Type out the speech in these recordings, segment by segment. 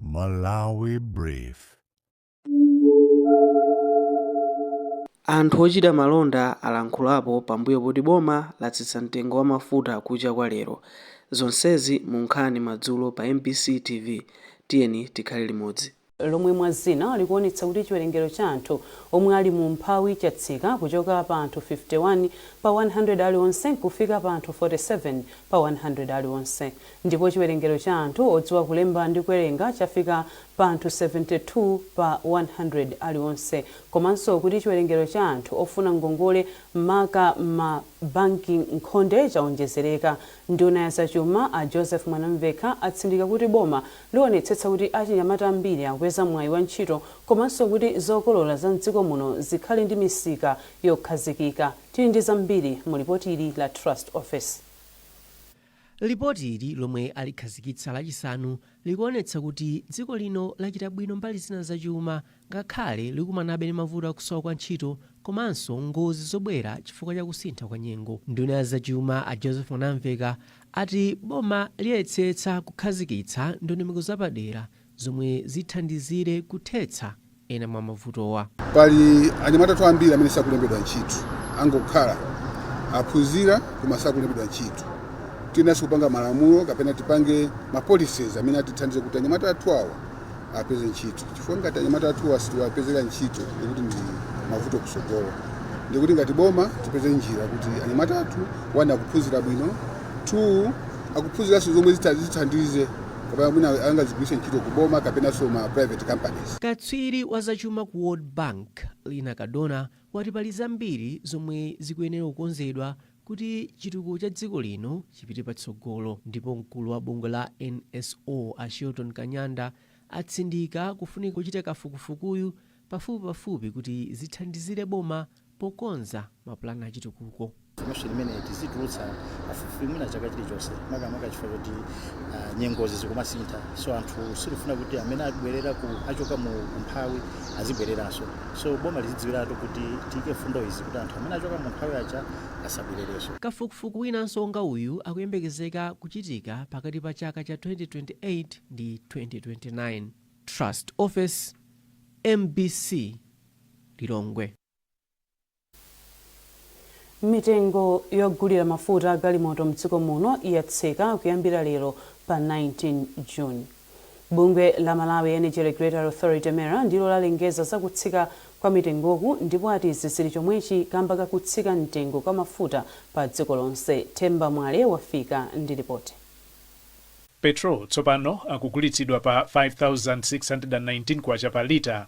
Malawi Brief. Anthu ochita malonda alankhulapo pambuyo poti boma latsitsa mtengo wa mafuta kucha kwa lero. Zonsezi mu nkhani madzulo pa mbc TV. Tiyeni tikhale limodzi. lomwe mwa zina likuonetsa kuti chiwerengero cha anthu omwe ali mu umphawi chatsika kuchoka pa anthu 51 pa 100 alionse kufika pa anthu 47 pa 100 alionse. Ndipo chiwerengero cha anthu odziwa kulemba ndi kuwerenga chafika pa anthu 72 pa 100 alionse, komanso kuti chiwerengero cha anthu ofuna ngongole maka m'ma banki nkhonde chawonjezereka, nduna ya zachuma a Joseph Mwanamvekha atsindika kuti boma liwonetsetsa kuti achinyamata ambiri akupeza mwayi wa ntchito komanso kuti zokolola za m'dziko muno zikhale ndi misika yokhazikika. Tili ndi zambiri mu lipoti ili la Trust Ofesi. Lipoti ili lomwe alikhazikitsa lachisanu likuonetsa kuti dziko lino lachita bwino mbali zina za chuma ngakhale likumanabe ndi mavuto a kusowa kwa ntchito komanso ngozi zobwera chifukwa cha kusintha kwa nyengo. Nduna ya zachuma a Joseph Mwanamvekha ati boma liyesetsa kukhazikitsa ndondomeko zapadera zomwe zithandizire kuthetsa ena mwa mavutowa. Pali anyamata athu ambiri amene sakulembedwa ntchito, angokhala, aphunzira koma sakulembedwa ntchito. Tiyeneranso kupanga malamulo kapena tipange ma policies amene atithandize kuti anyamata athu awa apeze ntchito, chifukwa ngati anyamata athuwa sitiwapezera ntchito ndikuti ndi mavuto kutsogolo. Ndikuti ngati boma tipeze njira kuti anyamata athu one akuphunzira bwino, two akuphunziranso zomwe zitha- zithandize kapena mwina angazigwiritse ntchito ku boma kapenanso ma private companies. Katswiri wa zachuma ku World Bank, Lina Cardona, wati pali zambiri zomwe zikuyenera kukonzedwa kuti chitukuko cha dziko lino chipite patsogolo ndipo mkulu wa bungwe la NSO, a Shelton Kanyanda, atsindika kufunika kochita kafukufukuyu pafupipafupi kuti zithandizire boma pokonza mapulani a chitukuko. Information imeneyi tizitulutsa pafupifupi mwina chaka chilichonse makamaka chifukwa choti uh, nyengozi zikumasintha so anthu sitifuna kuti amene abwerera ku achoka mu umphawi azibwereranso so boma lizidziwiratu kuti tiike mfundo izi kuti anthu amene achoka mu umphawi aja asabwererenso Kafukufuku winanso wonga uyu akuyembekezeka kuchitika pakati pa chaka cha 2028 ndi 2029. Trust Ofesi, mbc. Lilongwe. Mitengo yogulira mafuta a galimoto mdziko muno yatsika kuyambira lero pa 19 June. Bungwe la Malawi Energy Regulatory Authority, MERA, ndilo lalengeza za kutsika kwa mitengoku ndipo ati izi zili chomwechi kamba ka kutsika mtengo kwa mafuta pa dziko lonse. Themba Mwale wafika ndi lipoti. Petrol tsopano akugulitsidwa pa K5619 pa lita.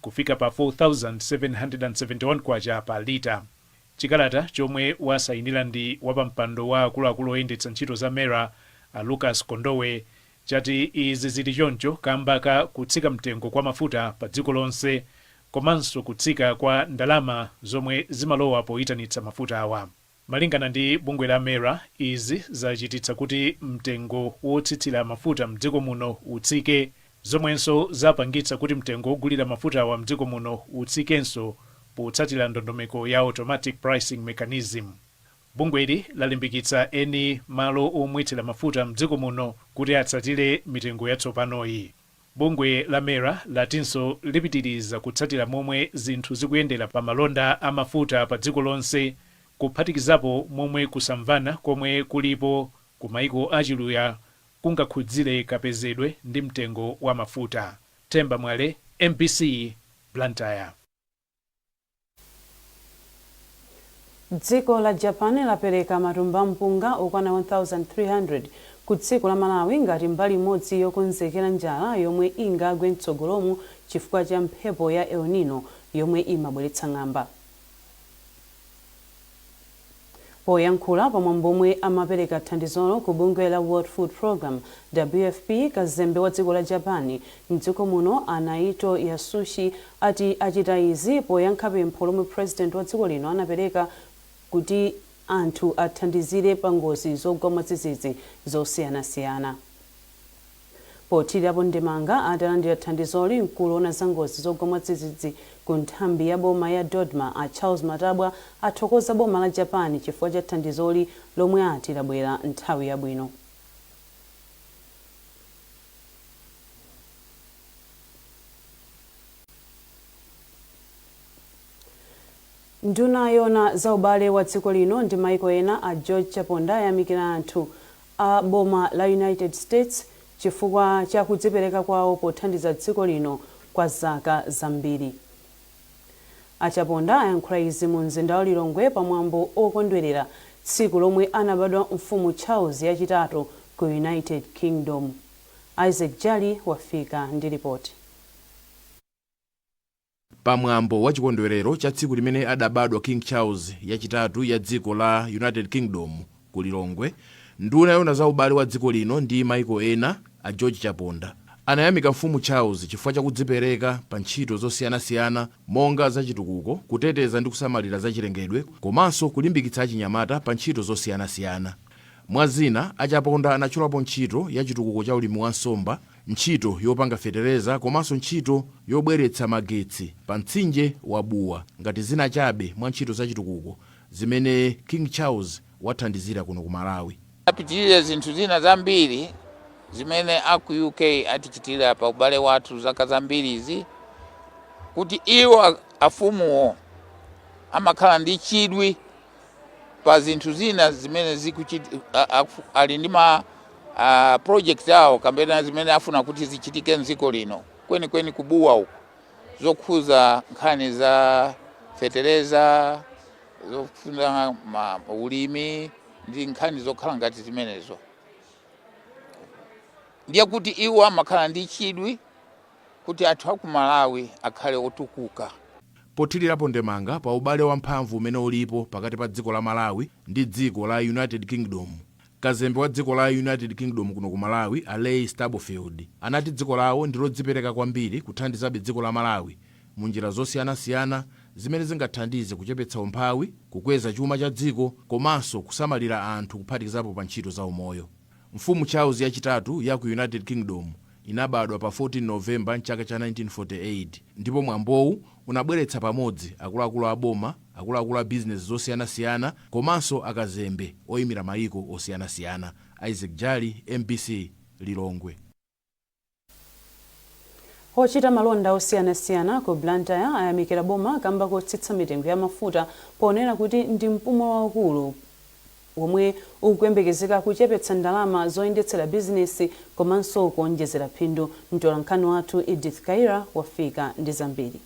kufika pa K4771 pa lita. Chikalata chomwe wasayinira ndi wapampando wa akuluakulu oyendetsa ntchito za MERA a Lucas Kondowe chati izi zili choncho kamba ka kutsika mtengo kwa mafuta pa dziko lonse komanso kutsika kwa ndalama zomwe zimalowa poyitanitsa mafutawa. Malingana ndi bungwe la MERA, izi zachititsa kuti mtengo wotsitsira mafuta mdziko muno utsike, zomwenso zapangitsa kuti mtengo wogulira mafutawa mdziko muno utsikenso potsatira ndondomeko ya Automatic Pricing Mechanism. Bungweli lalimbikitsa eni malo omwetsera mafuta mdziko muno kuti atsatire mitengo yatsopanoyi. Bungwe la MERA latinso lipitiriza kutsatira momwe zinthu zikuyendera pa malonda a mafuta pa dziko lonse kuphatikizapo momwe kusamvana komwe kulipo ku maiko a Chiluya kungakhudzire kapezedwe ndi mtengo wa mafuta. Themba Mwale, MBC, Blantyre. Dziko la Japan lapereka matumba a mpunga okwana 1,300 ku dziko la Malawi ngati mbali imodzi yokonzekera njala yomwe ingagwe mtsogolomu chifukwa cha mphepo ya El Nino yomwe imabweretsa ng'amba. Poyankhula pa mwambo omwe amapereka thandizolo ku bungwe la World Food Programme, WFP, kazembe wa dziko la Japan m'dziko muno a Naito Yasushi ati achita izi poyankha pempho lomwe President wa dziko lino anapereka kuti anthu athandizire pa ngozi zogwa mwadzidzidzi zosiyanasiyana. Pothirirapo ndemanga atalandira thandizoli, mkulu owona za ngozi zogwa mwadzidzidzi ku nthambi ya boma ya Dodma a Charles Matabwa athokoza boma la Japan chifukwa cha thandizoli lomwe ati labwera nthawi yabwino. Nduna yoona za ubale wa dziko lino ndi maiko ena a George Chaponda ayamikira anthu a boma la United States chifukwa cha kudzipereka kwawo pothandiza dziko lino kwa zaka zambiri. A Chaponda ayankhula izi mu mzinda wa Lilongwe pa mwambo okondwerera tsiku lomwe anabadwa mfumu Charles yachitatu ku United Kingdom. Isaac Jali wafika ndi lipoti. Pa mwambo wa chikondwerero cha tsiku limene adabadwa King Charles yachitatu ya dziko la United Kingdom ku Lilongwe, nduna yoona za ubale wa dziko lino ndi maiko ena, a George Chaponda, anayamika Mfumu Charles chifukwa cha kudzipereka pa ntchito zosiyanasiyana monga za chitukuko, kuteteza ndi kusamalira za chilengedwe komanso kulimbikitsa achinyamata pa ntchito zosiyanasiyana. Mwa zina, a Chaponda anatchulapo ntchito ya chitukuko cha ulimi wa nsomba, ntchito yopanga fetereza komanso ntchito yobweretsa magetsi pa mtsinje wa Bua ngati zina chabe mwa ntchito za chitukuko zimene King Charles wathandizira kuno ku Malawi. Apitirira zinthu zina zambiri zimene a ku UK atichitira pa ubale wathu zaka zambirizi, kuti iwo, afumuwo, amakhala ndi chidwi pa zinthu zina zimene zikuchit- a- a- ali ndi ma a, project awo kapena zimene afuna kuti zichitike mdziko lino kwenikweni ku Bua uko zokhuza nkhani za fetereza zofuna ma- ulimi ndi nkhani zokhala ngati zimenezo ndiye kuti iwo amakhala ndi chidwi kuti anthu a ku Malawi akhale otukuka. Pothilirapo ndemanga pa ubale wa mphamvu umene ulipo pakati pa dziko la Malawi ndi dziko la United Kingdom, Kazembe wa dziko la United Kingdom kuno ku Malawi a Leigh Stubblefield anati dziko lawo ndilodzipereka kwambiri kuthandizabe dziko la Malawi mu njira zosiyanasiyana zimene zingathandize kuchepetsa umphawi, kukweza chuma cha dziko komanso kusamalira anthu kuphatikizapo pa ntchito za umoyo. Mfumu Charles ya chitatu yaku United Kingdom Inabadwa pa 14 November m'chaka cha 1948 ndipo mwambowu unabweretsa pamodzi akuluakulu a boma, akuluakulu a bizinesi zosiyanasiyana komanso akazembe oimira mayiko osiyanasiyana. Isaac Jali, mbc, Lilongwe. Ochita malonda osiyanasiyana ku Blantyre ayamikira boma kamba kotsitsa mitengo ya mafuta ponena kuti ndi mpumo waukulu. womwe ukuyembekezeka kuchepetsa ndalama zoyendetsera bizinesi komanso kuonjezera phindu. Mtolankhani wathu Edith Kaira wafika ndi zambiri.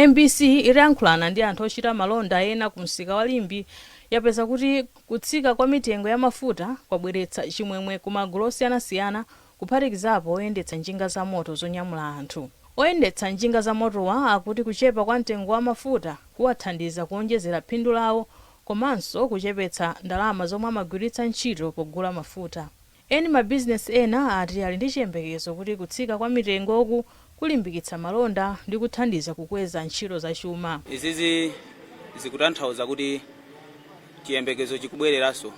Mbc itayankhulana ndi anthu ochita malonda ena ku msika wa Limbe yapeza kuti kutsika kwa mitengo ya mafuta kwabweretsa chimwemwe ku magulu osiyanasiyana kuphatikizapo oyendetsa njinga zamoto zonyamula anthu. Oyendetsa njinga zamotowa akuti kuchepa kwa mtengo wa mafuta kuwathandiza kuonjezera phindu lawo komanso kuchepetsa ndalama zomwe amagwiritsa ntchito pogula mafuta. Eni mabizinesi ena ati ali ndi chiyembekezo kuti kutsika kwa mitengoku kulimbikitsa malonda ndi kuthandiza kukweza ntchito zachuma. Izizi zikutanthauza kuti chiyembekezo chikubwereranso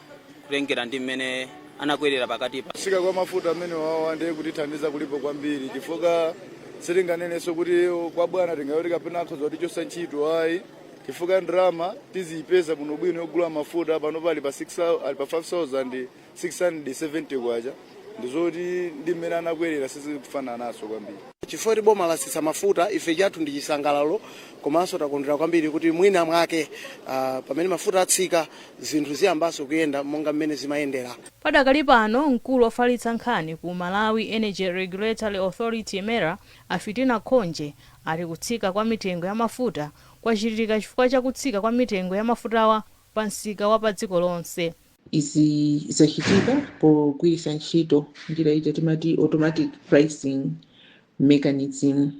kutengera ndi mmene anakwerera pakatipa. Kutsika kwa mafuta amenewawa ndiye kutithandiza kulipo kwambiri chifukwa sitinganenenso kuti kwabwana tingayo kuti kapena akhoza kutichotsa ntchito ayi. chifukwa ndalama tiziyipeza bwinobwino yogula mafuta panopa ali pa 5670 kwacha ndizoti ndi mmene anakwerera sizikufanana nazo kwambiri chifukwa kuti boma latsitsa mafuta ife chathu ndi chisangalalo komanso takondwera kwambiri kuti mwina mwake ah, pamene mafuta atsika zinthu ziyambanso kuyenda monga mmene zimayendera Padakali pano, mkulu ofalitsa nkhani ku Malawi Energy Regulatory Authority, MERA, A Fitina Khonje akuti kutsika kwa mitengo ya mafuta kwachitika chifukwa cha kutsika kwa mitengo ya mafutawa pa msika wa pa dziko lonse. Izi zachitika pogwiritsa ntchito njira ija timati automatic pricing mechanism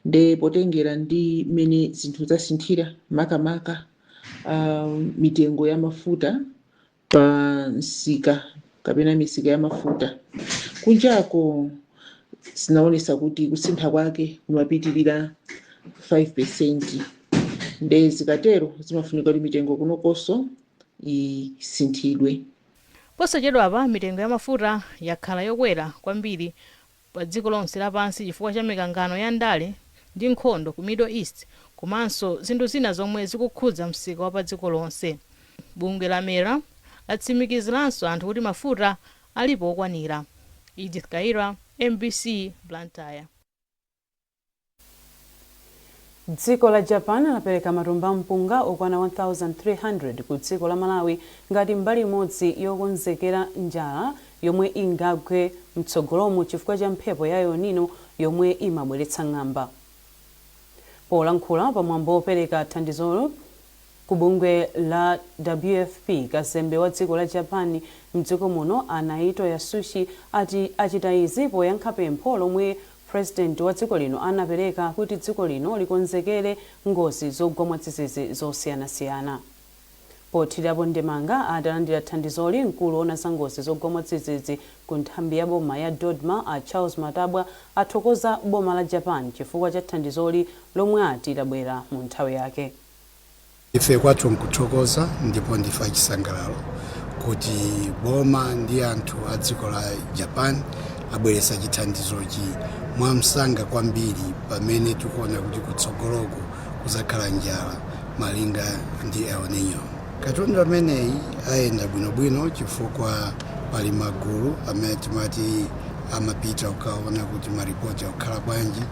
nde potengera ndi mmene zinthu zasinthira makamaka mitengo ya mafuta pa msika kapena misika ya mafuta kunjako zinaonesa kuti kusintha kwake kumapitirira 5% nde zikatero zimafunika kuti mitengo kunokonso isinthidwe Posachedwapa mitengo ya mafuta yakhala yokwera kwambiri padziko lonse lapansi chifukwa cha mikangano ya ndale ndi nkhondo ku Middle East komanso zinthu zina zomwe zikukhudza msika wa padziko lonse. Bungwe la MERA latsimikiziranso anthu kuti mafuta alipo okwanira. Edith Kaira, mbc, Blantyre. Dziko la Japan lapereka matumba a mpunga okwana 1,300 ku dziko la Malawi ngati mbali imodzi yokonzekera njala yomwe ingagwe mtsogolomu chifukwa cha mphepo ya El Nino yomwe imabweretsa ng'amba. Polankhula pamwambo wopereka thandizolo, Ku bungwe la WFP, kazembe wa dziko la Japan mdziko muno a Naito Yasushi ati achita izi poyankha pempho lomwe President wa dziko lino anapereka kuti dziko lino likonzekere ngozi zogwa mwadzidzidzi zosiyanasiyana. Pothirirapo ndemanga atalandira thandizoli, mkulu owona za ngozi zogwa mwadzidzidzi ku nthambi ya boma ya Dodma a Charles Matabwa athokoza boma la Japan chifukwa cha thandizoli lomwe ati labwera mu nthawi yake. Ife kwathu nkuthokoza ndipo ndife achisangalalo kuti boma ndi anthu a dziko la Japan abweretsa chithandizochi mwamsanga kwambiri pamene tikuona kuti kutsogoloku kuzakhala njala malinga ndi El Nino. Katundu ameneyi ayenda bwinobwino chifukwa pali magulu amene timati amapita kukaona kuti maripoti akukhala bwanji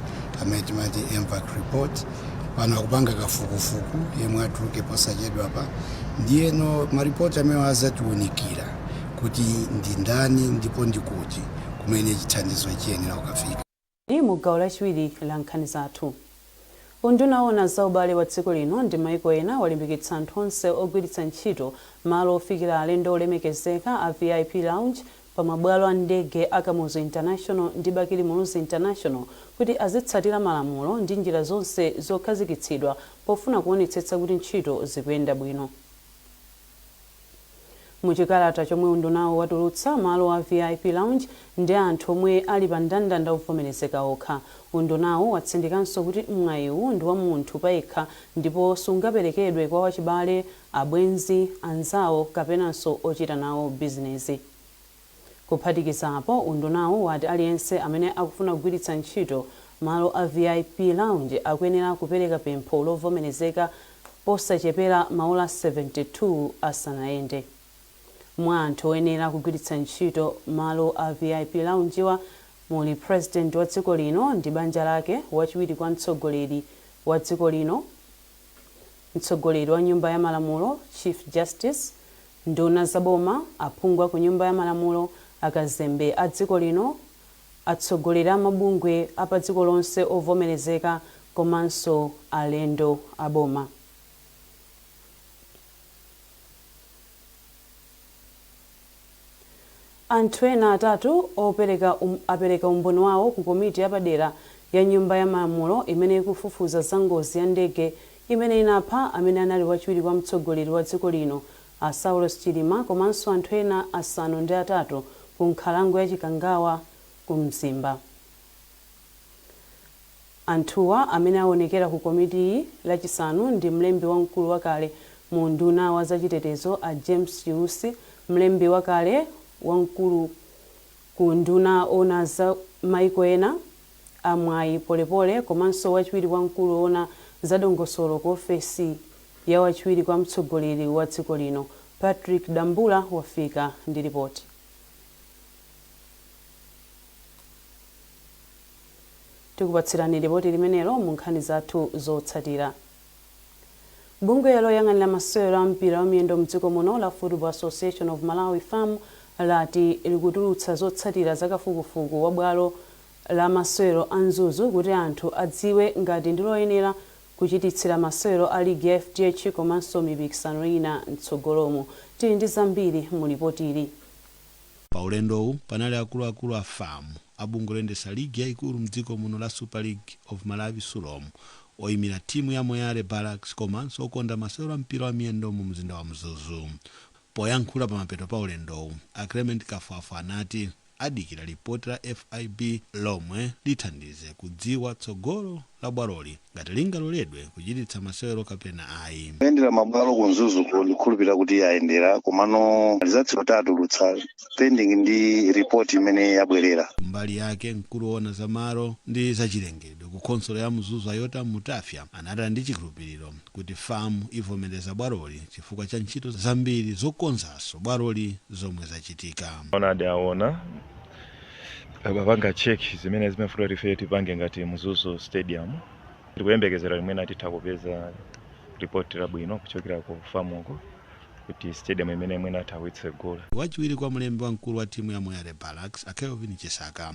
amene timati Mvac report. pano akupanga kafukufuku yemwe atuluke posachedwapa ndiyeno maripoti amenewo azatiunikira kuti ndi ndani ndipo ndi kuti kumene chithandizo chiyenera kukafika. Mu gawo lachiwiri la nkhani zathu, Unduna Woona za Ubale wa Dziko Lino ndi Mayiko Ena walimbikitsa anthu onse ogwiritsa ntchito malo ofikira alendo olemekezeka a VIP Lounge pa mabwalo a ndege a Kamuzu International ndi Bakili Muluzi International kuti azitsatira malamulo ndi njira zonse zokhazikitsidwa pofuna kuonetsetsa kuti ntchito zikuyenda bwino. Mu chikalata chomwe undunawu watulutsa, malo a VIP Lounge ndi a anthu omwe ali pa ndandanda ovomerezeka okha. Undunawu watsindikanso kuti mwayiwu ndi wa munthu payekha ndipo sungaperekedwe kwa wachibale, abwenzi, anzawo kapenanso ochita nawo bizinezi. Kuphatikizapo, undunawu wati aliyense amene akufuna kugwiritsa ntchito malo a VIP Lounge akuyenera kupereka pempho lovomerezeka posachepera maola 72 asanayende. Mwa anthu oyenera kugwiritsa ntchito malo a VIP Lounge-wa muli President wa dziko lino ndi banja lake, wachiwiri kwa mtsogoleri wa dziko lino, mtsogoleri wa nyumba ya malamulo, Chief Justice, nduna za boma, aphungu a ku nyumba ya malamulo, akazembe a dziko lino, atsogoleri a mabungwe a pa dziko lonse ovomerezeka komanso alendo a boma. Anthu ena atatu apereka umboni wawo ku komiti yapadera ya Nyumba ya Malamulo imene ikufufuza za ngozi ya ndege imene inapha amene anali wachiwiri kwa mtsogoleri wa dziko lino a Saulos Chilima komanso anthu ena asanu ndi atatu ku nkhalango ya Chikangawa ku Mzimba. Anthuwa amene awonekera ku komitiyi lachisanu ndi mlembi wamkulu wakale mu unduna wa za chitetezo a James Chiusi, mlembi wakale wamkulu ku unduna owona za maiko ena a Mwayi Polepole komanso wachiwiri kwa mkulu owona za dongosolo ku ofesi ya wachiwiri kwa mtsogoleri wa dziko lino. Patrick Dambula wafika ndi lipoti. Tikupatsirani lipoti limenelo mu nkhani zathu zotsatira. Bungwe loyang'anira masewero a mpira wa miyendo mdziko muno la Football Association of Malawi, fam, lati likutulutsa zotsatira za kafukufuku wa bwalo la masewero a Mzuzu kuti anthu adziwe ngati ndi loyenera kuchititsira masewero a ligi ya fdh komanso mipikisano ina mtsogolomu. Tili ndi zambiri mu lipotili. Pa ulendowu panali akuluakulu a fam, a bungwe loyendetsa ligi yaikulu m'dziko muno la Super League of Malawi, Sulom, oimira timu ya Moyale Barracks komanso okonda masewero a mpira wa miyendo mu mzinda wa Mzuzu. Poyankhula pamapeto pa ulendowu, a Clement Kafwafwa anati adikira lipoti la FIB lomwe lithandize kudziwa tsogolo la bwaloli. ngati lingaloledwe kuchititsa masewero kapena ayi. kuyendera mabwalo ku mzuzuko ndikukhulupirira kuti ayendera komano rizatsi yo atitulutsa pending ndi ripoti imene yabwerera kumbali yake mkulu woona za malo ndi zachilengedwe ku khonsolo ya mzuzu a yotam mtafya anati ali ndi chikhulupiriro kuti fam ivomereza bwaloli chifukwa cha ntchito zambiri zokonzanso bwaloli zomwe zachitika Aona tapanga check zimene zimafuna kuti ife tipange ngati mzuzu stadium tikuyembekezera kuti mwina titha kupeza report labwino kuchokera ku famuko kuti stadium imeneyi mwina itha kutsegula wachiwiri kwa mlembi wamkulu wa timu ya moyale barracks a kelvin chisaka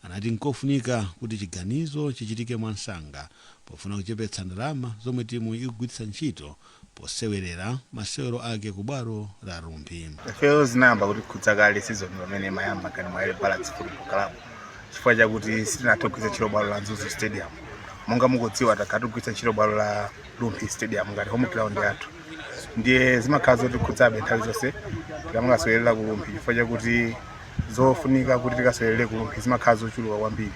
anati nkofunika kuti chiganizo chichitike mwamsanga pofuna kuchepetsa ndalama zomwe timu ikugwiritsa ntchito posewerera masewero ake ku bwalo la Rumphi. Ifeyo zinayamba kutikhudza kale sizoni pamene imayamba ngati Moyale Barracks Football Club chifukwa chakuti sitinathe kugwiritsa ntchito bwalo la Mzuzu Stadium. Monga mukudziwa takhala tikugwiritsa ntchito bwalo la Rumphi Stadium ngati home ground yathu. Ndiye zimakhala zotikhudzabe nthawi zonse tikamakasewerera ku Rumphi chifukwa chakuti zofunika kuti tikasewerere ku rumphi zimakhala zochuluka kwambiri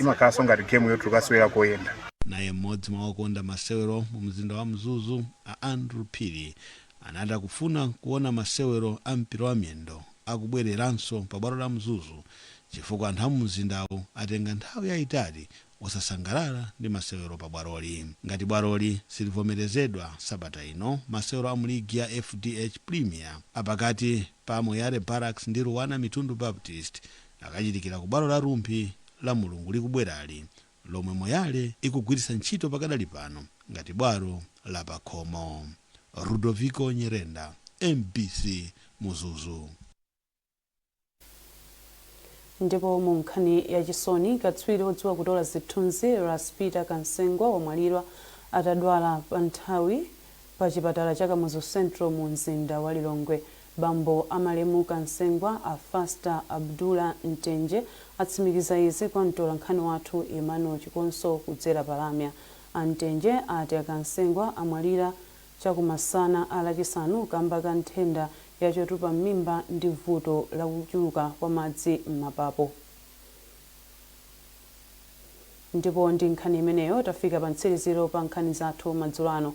imakhalanso ngati gemu yoti tikukasewera koyenda Naye mmodzi mwa okonda masewero mu mzinda wa Mzuzu a Andrew Phiri anati akufuna kuona masewero a mpira wa miyendo akubwereranso pa bwalo la Mzuzu chifukwa anthu a mu mzindawu atenga nthawi yaitali osasangalala ndi masewero pa bwaloli ngati bwaloli silivomerezedwa sabata ino masewero amu ligi ya fdh Premier a pakati pa Moyale Barracks ndi Luanar Mitundu Baptist akachitikira ku bwalo la Rumphi lamulungu likubwerali lomwe Moyale ikugwiritsa ntchito pakadali pano ngati bwalo la pakhomo. Ludoviko Nyirenda, mbc, Mzuzu. Ndipo mu nkhani ya chisoni, katswiri odziwa kutola zithunzi Ras Peter Kansengwa wamwalira atadwala pa nthawi pa chipatala cha Kamuzu Central mu mzinda wa Lilongwe. Bambo a malemu Kansengwa a Fasta Abdullah Mtenje atsimikiza izi kwa mtolankhani wathu Emmanuel Chikonso kudzera pa lamya. A Mtenje ati a Kansengwa amwalira chakumasana a Lachisanu kamba ka nthenda ya chotupa m'mimba ndi vuto la kuchuluka kwa madzi m'mapapo. Ndipo ndi nkhani imeneyo tafika pa mtsiriziro pa nkhani zathu madzulo ano.